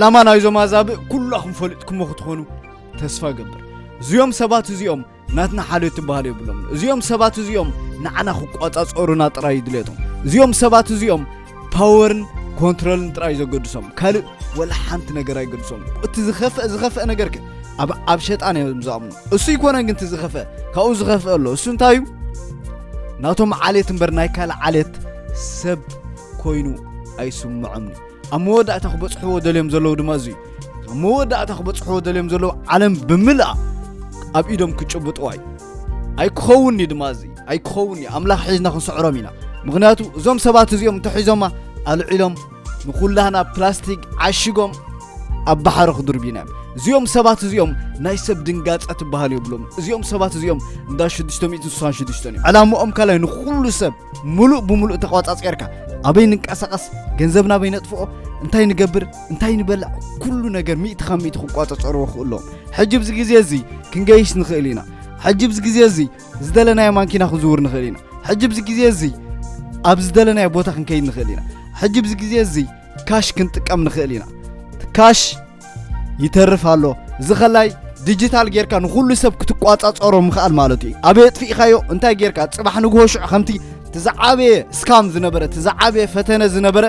ዕላማ ናይዞም ኣዛብእ ኩላኹም ፈሊጥኩሞ ክትኾኑ ተስፋ እገብር። እዚኦም ሰባት እዚኦም ናትና ሓልዮት ትበሃል የብሎምን። እዚኦም ሰባት እዚኦም ንዓና ክቆጻጸሩና ጥራይ እዩ ድሌቶም። እዚኦም ሰባት እዚኦም ፓወርን ኮንትሮልን ጥራይ ዘገድሶም ካልእ ወላ ሓንቲ ነገር ኣይገድሶም። እቲ ዝኸፍአ ዝኸፍአ ነገር ግን ኣብ ኣብ ሸጣን እዮም ዝኣምኑ። እሱ ይኮነን ግን እቲ ዝኸፍአ ካብኡ ዝኸፍአ ኣሎ። እሱ እንታይ እዩ? ናቶም ዓሌት እምበር ናይ ካልእ ዓሌት ሰብ ኮይኑ ኣይስምዖምን እዩ። ኣብ መወዳእታ ክበጽሕዎ ደልዮም ዘለዉ ድማ እዙይ ኣብ መወዳእታ ክበጽሕዎ ደልዮም ዘለዉ ዓለም ብምልኣ ኣብ ኢዶም ክጭብጥዋ እዩ ኣይክኸውን እዩ ድማ እዚ ኣይክኸውን እዩ ኣምላኽ ሒዝና ክንስዕሮም ኢና ምክንያቱ እዞም ሰባት እዚኦም እንተሒዞማ ኣልዒሎም ንኩላህና ፕላስቲክ ዓሽጎም ኣብ ባሕሪ ክድርብዩና እዮም እዚኦም ሰባት እዚኦም ናይ ሰብ ድንጋፀ ትበሃል የብሎም እዚኦም ሰባት እዚኦም እንዳ 666 እዩ ዕላምኦም ካልይ ንኩሉ ሰብ ምሉእ ብምሉእ ተቋጻጼርካ ኣበይ ንንቀሳቐስ ገንዘብ ናበይ ነጥፍኦ እንታይ ንገብር እንታይ ንበልዕ ኩሉ ነገር ሚእቲ ካብ ሚእቲ ክቋጸጸርዎ ክእሉ ኣለዎም ሕጂ ብዚ ግዜ እዚ ክንገይሽ ንኽእል ኢና ሕጂ ብዚ ግዜ እዚ ዝደለናዮ ማንኪና ክንዝውር ንኽእል ኢና ሕጂ ብዚ ግዜ እዚ ኣብ ዝደለናዮ ቦታ ክንከይድ ንኽእል ኢና ሕጂ ብዚ ግዜ እዚ ካሽ ክንጥቀም ንኽእል ኢና ካሽ ይተርፍ ኣሎ እዚ ከላይ ዲጂታል ጌርካ ንኹሉ ሰብ ክትቋጻጸሮ ምኽኣል ማለት እዩ ኣበይ ኣጥፊእካዮ እንታይ ጌርካ ጽባሕ ንግሆ ሽዑ ከምቲ እቲ ዝዓበየ ስካም ዝነበረ እቲ ዝዓበየ ፈተነ ዝነበረ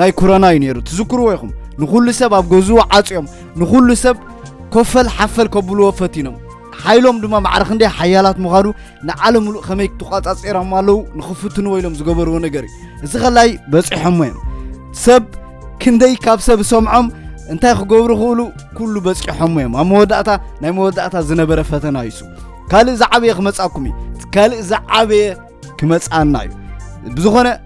ናይ ኩረና እዩ ነይሩ ትዝክርዎ ኢኹም ንኹሉ ሰብ ኣብ ገዝኡ ዓፅዮም ንኹሉ ሰብ ኮፈል ሓፈል ከብልዎ ፈቲኖም ሓይሎም ድማ ማዕረ ክንደይ ሓያላት ምዃኑ ንዓለም ምሉእ ከመይ ተቋጻጺሮም ኣለዉ ንኽፍትንዎ ኢሎም ዝገበርዎ ነገር እዩ እዚ ከላይ በፂሖሞ እዮም ሰብ ክንደይ ካብ ሰብ ሰምዖም እንታይ ክገብሩ ክእሉ ኩሉ በፂሖሞ እዮም ኣብ መወዳእታ ናይ መወዳእታ ዝነበረ ፈተና ይሱ ካልእ ዝዓበየ ክመፃኩም እዩ ካልእ ዝዓበየ ክመፃና እዩ ብዝኾነ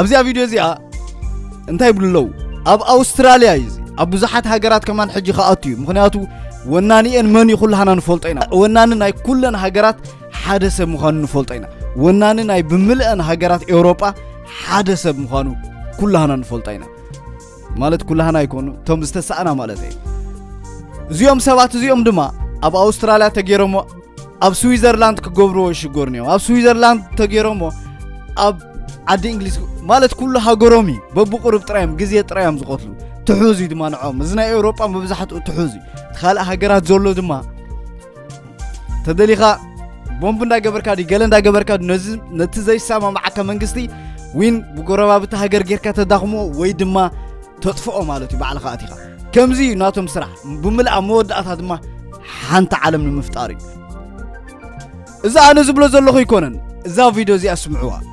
ኣብዚኣ ቪድዮ እዚኣ እንታይ ይብሉ ኣለዉ ኣብ ኣውስትራልያ እዩ እዚ ኣብ ብዙሓት ሃገራት ከማን ሕጂ ክኣቱ እዩ ምክንያቱ ወናኒኤን መን እዩ ኩላሃና ንፈልጦ ኢና ወናኒ ናይ ኩለን ሃገራት ሓደ ሰብ ምዃኑ ንፈልጦ ኢና ወናኒ ናይ ብምልአን ሃገራት ኤውሮጳ ሓደ ሰብ ምዃኑ ኩላሃና ንፈልጦ ኢና ማለት ኩላህና ኣይኮኑ እቶም ዝተሳእና ማለት እየ እዚኦም ሰባት እዚኦም ድማ ኣብ ኣውስትራልያ ተገይሮሞ ኣብ ስዊዘርላንድ ክገብርዎ ይሽገሩን እዮም ኣብ ስዊዘርላንድ ተገይሮሞ ኣብ ዓዲ እንግሊዝ ማለት ኩሉ ሃገሮም እዩ በብቁርብ ጥራይ እዮም ግዜ ጥራይ እዮም ዝቐትሉ ትሑዝ እዩ ድማ ንዖም እዚ ናይ ኤውሮጳ መብዛሕትኡ ትሑዝ እዩ እቲ ካልእ ሃገራት ዘሎ ድማ ተደሊኻ ቦምብ እንዳገበርካ ድዩ ገለ እንዳገበርካ ድዩ ነዚ ነቲ ዘይሰማማዓካ መንግስቲ ዊን ብጎረባብቲ ሃገር ጌርካ ተዳኽሞ ወይ ድማ ተጥፍኦ ማለት እዩ ባዕልኻ ኣቲኻ ከምዚ እዩ ናቶም ስራሕ ብምልኣ መወዳእታ ድማ ሓንቲ ዓለም ንምፍጣር እዩ እዚ ኣነ ዝብሎ ዘለኹ ኣይኮነን እዛ ቪድዮ እዚኣ ስምዕዋ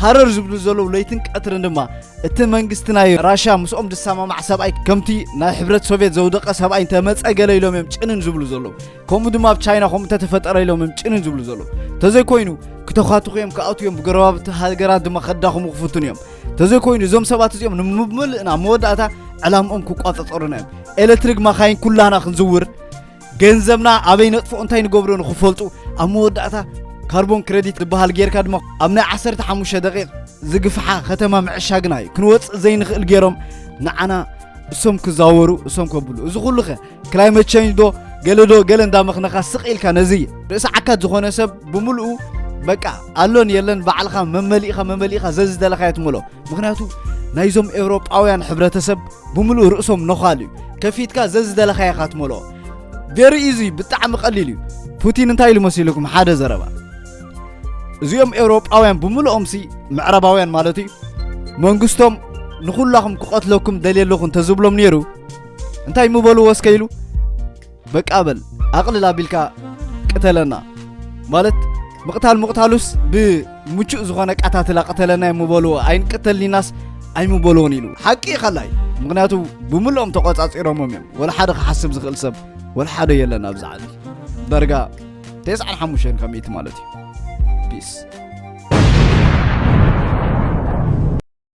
ሃረር ዝብሉ ዘለዉ ለይትን ቀትርን ድማ እቲ መንግስቲ ናይ ራሽያ ምስኦም ዝሰማማዕ ሰብኣይ ከምቲ ናይ ሕብረት ሶቪየት ዘውደቐ ሰብኣይ እንተመፀ ገለ ኢሎም እዮም ጭንን ዝብሉ ዘለዉ ከምኡ ድማ ኣብ ቻይና ከምኡ እንተተፈጠረ ኢሎም እዮም ጭንን ዝብሉ ዘለዉ እንተዘይኮይኑ ክተኳትኹ እዮም ክኣትዉ እዮም ብጎረባብቲ ሃገራት ድማ ከዳኽሙ ክፍትኑ እዮም እንተዘይኮይኑ እዞም ሰባት እዚኦም ንምምልእና መወዳእታ ዕላምኦም ክቋፀፀሩና እዮም ኤሌክትሪክ መኻይን ኩላና ክንዝውር ገንዘብና ኣበይ ነጥፎ እንታይ ንገብሮ ንክፈልጡ ኣብ መወዳእታ ካርቦን ክረዲት ዝበሃል ጌርካ ድማ ኣብ ናይ 15 ደቂቕ ዝግፍሓ ከተማ ምዕሻግና እዩ ክንወፅእ ዘይንኽእል ገይሮም ንዓና እሶም ክዛወሩ እሶም ከብሉ እዚ ኩሉ ከ ክላይመት ቸንጅ ዶ ገለ ዶ ገለ እንዳመኽነኻ ስቕ ኢልካ ነዚ ርእሲ ዓካት ዝኾነ ሰብ ብምልኡ በቃ ኣሎን የለን ባዕልኻ መመሊእኻ መመሊእኻ ዘዝደለኻዮ ትምሎ ምክንያቱ ናይዞም ኤውሮጳውያን ሕብረተሰብ ብምሉእ ርእሶም ነዃል እዩ ከፊትካ ዘዝደለኻየ ኢኻ ትመልኦ ቬሪ ኢዚ ብጣዕሚ ቀሊል እዩ ፑቲን እንታይ ኢሉ መሲልኩም ሓደ ዘረባ እዚኦም ኤውሮጳውያን ብምልኦምሲ ምዕረባውያን ማለት እዩ መንግስቶም ንኹላኹም ክቐትለኩም ደልየ ኣለኹ እንተዝብሎም ነይሩ እንታይ ምበልዎ እስከ ኢሉ በቃ በል ኣቕልል ኣቢልካ ቅተለና ማለት ምቕታል ምቕታሉስ ብምቹእ ዝኾነ ኣቃታትላ ቅተለና እየ ምበልዎ ኣይንቅተልኒናስ ኣይምበልዎን ኢሉ ሓቂ እዩ ካላይ ምክንያቱ ብምልኦም ተቆፃፂሮሞም እዮም ወላ ሓደ ክሓስብ ዝኽእል ሰብ ወላ ሓደ የለን ኣብዚ ዓዲ ዳርጋ ተስዓን ሓሙሽተን ካብ ሚእቲ ማለት እዩ ፒስ